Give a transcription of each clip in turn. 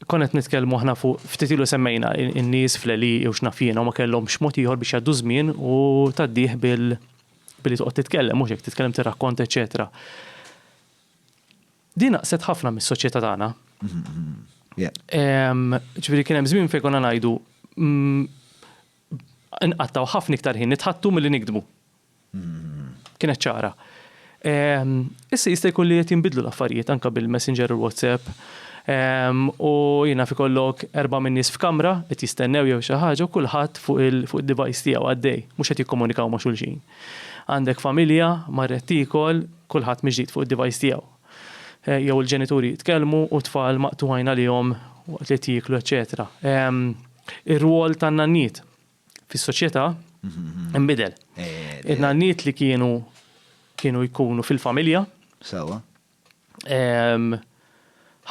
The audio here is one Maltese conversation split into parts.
Konna qed nitkellmu aħna fuq ftit ilu semmejna in-nies fl-eli jew x'naf jiena ma kellhomx mod ieħor biex jgħaddu żmien u tgħaddih bil billi toqgħod titkellem mhux hekk titkellem tirrakkont eċċetera. Din naqset ħafna mis-soċjetà tagħna. Ġifieri kien hemm żmien fejn konna ngħidu mm, nqattaw ħafna iktar ħin nitħattu milli nikdmu. Kienet ċara. Ehm, issa jista' jkun li qed jinbidlu l-affarijiet anke bil-Messenger u l-WhatsApp. Ehm, u jiena fi kollok erba' minn nies f'kamra qed jistennew jew xi ħaġa u kulħadd fuq il-device tiegħu għaddej, mhux qed jikkomunikaw ma' xulxin. Għandek familja, marret tiekol, kulħadd miġdid fuq id-device tiegħu. Eh, jew il-ġenituri jitkellmu u tfal maqtugħin għalihom waqt li qed jieklu, eċċetera. Ehm, ir-rwol tan-nanniet fis-soċjetà nbidel. In-nanniet li kienu kienu jkunu fil-familja. Sawa.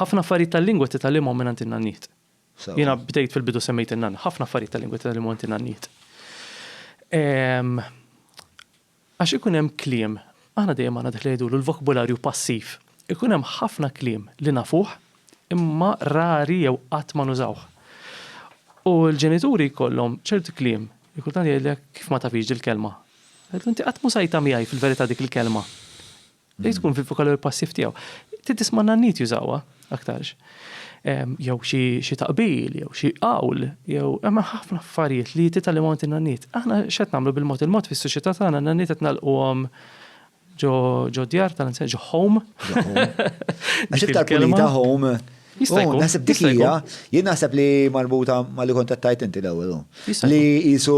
Ħafna affarijiet tal-lingwa titgħallimhom minn in-nanniet. Jiena bdejt fil-bidu semmejt in-nanna, ħafna affarijiet tal-lingwa titgħallimhom minn in-nanniet. Għax ikun hemm kliem, aħna dejjem għandna dak li jgħidulu l-vokbularju passiv, ikun hemm ħafna kliem li nafuh imma rari jew qatt ma nużawh. U l-ġenituri jkollhom ċerti kliem li kultant jgħidlek kif ma tafhiex dil-kelma. Tgħidlu inti qatt m'użajtha miegħi fil-verità dik il-kelma. Li tkun fil-vokalu passiv tiegħu. Titis ma' nannit jużawha aktarx. Jew xi taqbil, jew xi qawl, jew hemm ħafna affarijiet li titgħallem għand in-nannit. Aħna x'qed nagħmlu bil-mod il-mod fis-soċjetà tagħna n-nannit qed nagħlquhom ġo djar tal-insen, ġo home. Għax iktar kelma home Jista' jkun. Naħseb dik hija, jien naħseb li marbuta ma li kontattajt inti l-ewwel. Li jisu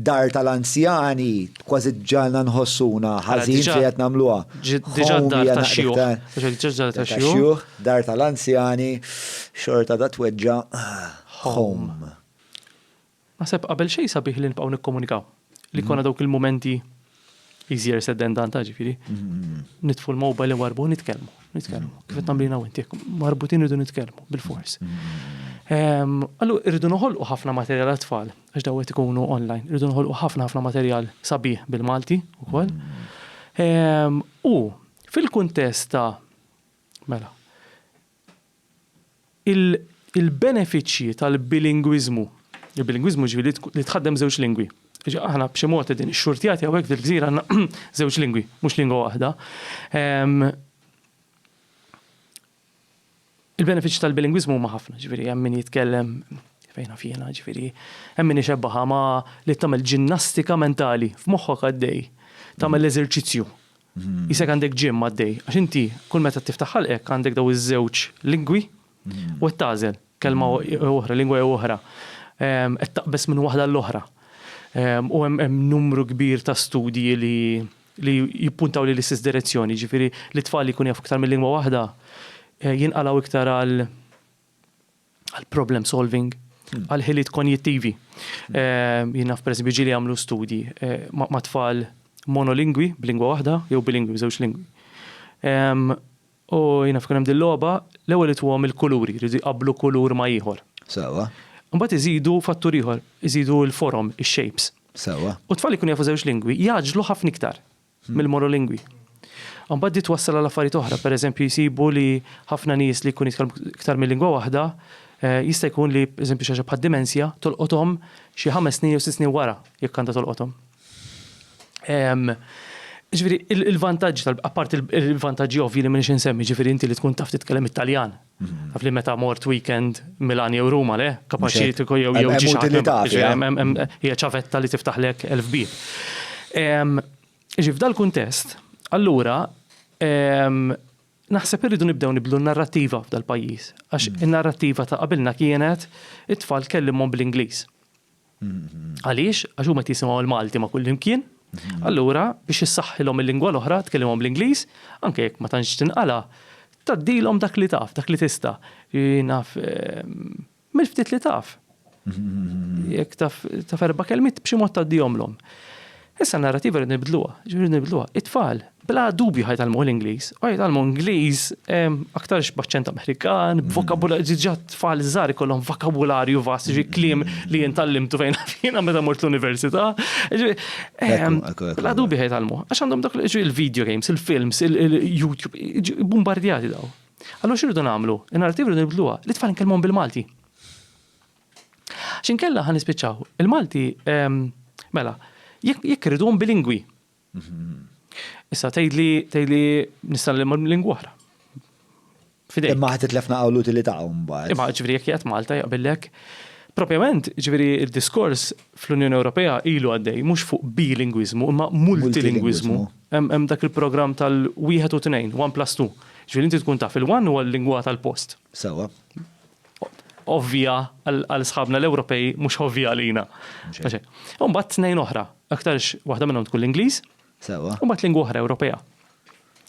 dar tal-anzjani kważi ġalna nħossuna ħażin xi qed nagħmluha. Diġà dar tax-xjuħ. Dar tal-anzjani xorta da tweġġa' home. Naħseb qabel xejn sabiħ li nibqgħu nikkomunikaw. Li jkollna dawk il-mumenti easier said than done ta' ġifieri. Nitfu l-mobile warbu nitkellmu, nitkellmu. Kif qed nagħmlina inti marbutin irridu nitkellmu bil-fors. Ehm, Allu irridu noħolqu ħafna materjal għat-tfal għax daw qed ikunu online. Irridu noħolqu ħafna ħafna materjal sabiħ bil-Malti wkoll. Ehm, u fil-kuntest ta' mela, Il-benefiċċji tal-bilingwiżmu, il-bilingwiżmu jiġifieri li tħaddem b'żewġ lingwi, aħna b'xi mod qegħdin ixxurtjati hawnhekk fil-gżira għandna żewġ lingwi, mhux lingwa waħda. Il-benefiċċji tal-bilingwiżmu huma ħafna, jiġifieri hemm min jitkellem fejn naf jiena, jiġifieri hemm min ixebbħha ma' li tagħmel ġinnastika mentali f'moħħok għaddej, tagħmel l-eżerċizzju Qisek għandek gym għaddej, għax inti kull meta tiftaħ ħalqek għandek dawn iż-żewġ lingwi u qed tagħżel kelma jew oħra, lingwa jew oħra. Qed taqbeż minn waħda għall-oħra. U hemm numru kbir ta' studji li li jippuntaw lejn l-istess direzzjoni, jiġifieri li t-tfal li jkunu jafu iktar minn lingwa waħda jinqalgħu iktar għal għal problem solving, għal ħiliet konjittivi. Ehm, jien naf pereżempju ġieli jagħmlu studji eh, ma' tfal monolingwi b'lingwa waħda jew bilingwi b'żewġ lingwi. Ehm, u jien naf hemm dil-logħba l-ewwel itwhom il-kuluri, jridu jqablu kulur ma' ieħor. Sawa. Mbagħad iżidu fattur ieħor, iżidu l-forom, ix-shapes. Sawa. U tfal ikun jafu żewġ lingwi, jaġlu ħafna iktar. mill-monolingwi. Imbagħad di twassal għal affarijiet oħra, pereżempju jsibu li ħafna nies li jkunu jitkellmu iktar minn lingwa waħda jista' jkun li pereżempju xi ħaġa bħad-dimensja tolqothom xi ħames snin jew sitt snin wara jekk għandha tolqothom. Jiġifieri l-vantaġġi tal-, apparti l-vantaġġi ovvji li m'iniex insemmi, jiġifieri inti li tkun taf titkellem it-Taljan, Taf li meta mort weekend Milan jew Ruma le, kapaċi li tkun jew jew ġi hija ċavetta li tiftaħlek elf bieb. Ġi f'dal kuntest, allura naħseb irridu nibdew nibdlu n-narrattiva f'dal-pajjiż, għax in-narrattiva ta' qabilna kienet it-tfal kellimhom bl-Ingliż. Għaliex? Għax huma qed jisimgħu l-Malti ma' kullimkien, mhm. allura biex issaħħilhom il-lingwa l-oħra tkellimhom bl-Ingliż, anke jekk ma tantx tinqala, taddilhom dak li taf, dak li tista'. Naf ehm, mill-ftit li taf. Mhm. Jekk taf erba' kelmiet b'xi mod taddihomlhom. Issa n-narrativa rridu nibdluha, ġifieri nibdluha. It-tfal bla dubju ħajtalmu l-Ingliż, u ħajtalmu Ingliż aktarx b'aċċent Amerikan, b'vokabularju, diġà tfal żgħar ikollhom vokabularju vast, ġi kliem li jien tallimtu fejn jiena meta mort l-università. Bla dubju ħajtalmu, għax għandhom dak il-video games, il-films, il-YouTube, bombardjati daw. Allura x'irridu nagħmlu? In-narrativa rridu nibdluha, li tfal nkellmuhom bil-Malti. X'inkella ħa nispiċċaw. Il-Malti, ehm, mela, jekk irriduhom bilingwi. Issa tgħidli tgħidli nista' lingwa oħra. Fidej. Imma ħadd itlefna qawl utilità mbagħad. Imma ġifieri jekk jgħid Malta jaqbillek. Propjament, ġifieri d-diskors fl-Unjoni Ewropea ilu għaddej mhux fuq bilingwiżmu imma multilingwiżmu. Hemm dak il-programm tal-wieħed u tnejn, one plus two. Ġifieri inti tkun taf il-one huwa l-lingwa tal-post. Sewwa. ovvja għal sħabna l-Ewropej mhux ovvja għalina. U mbagħad tnejn oħra, aktarx waħda minnhom tkun l-Ingliż, Sewa. u mbagħad lingwa oħra Ewropea.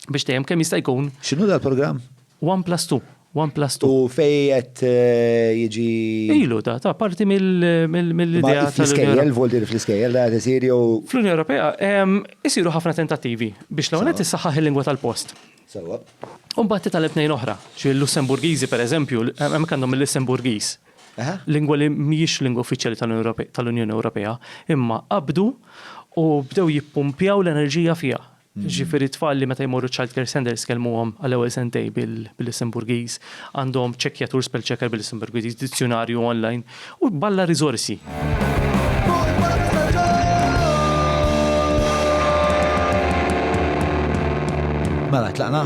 Biex dejjem kemm jista' jkun X'inhu dal-programm? 1 plus 2, 1 plus 2. U fej qed eh, jiġi Ilu ta' ta' parti mill- mill- Ma mill-idea tal-Unjoni fl-iskejjel, voldir fl-iskejjel, da qed isir jew fl-Unjoni Ewropea em, isiru ħafna tentattivi biex l-għonet issaħħaħ il-lingwa tal-post. Sewwa. U mbagħad titgħallem tnejn oħra, ġifieri l-Lussemburgiżi pereżempju, hemmhekk għandhom il-Lussemburgiż. Aha. Lingwa li mhijiex lingwa uffiċjali tal-Unjoni Ewropea, imma qabdu u bdew jippumpjaw l-enerġija fiha. Ġifieri t-tfal li meta jmorru ċ-child care centers kellmuhom għall-ewwel sentej bil-Lussemburgiż, għandhom ċekkjatur spell checker bil-Lussemburgiż, dizzjunarju online, U b'alla riżorsi. Mela, tlaqna?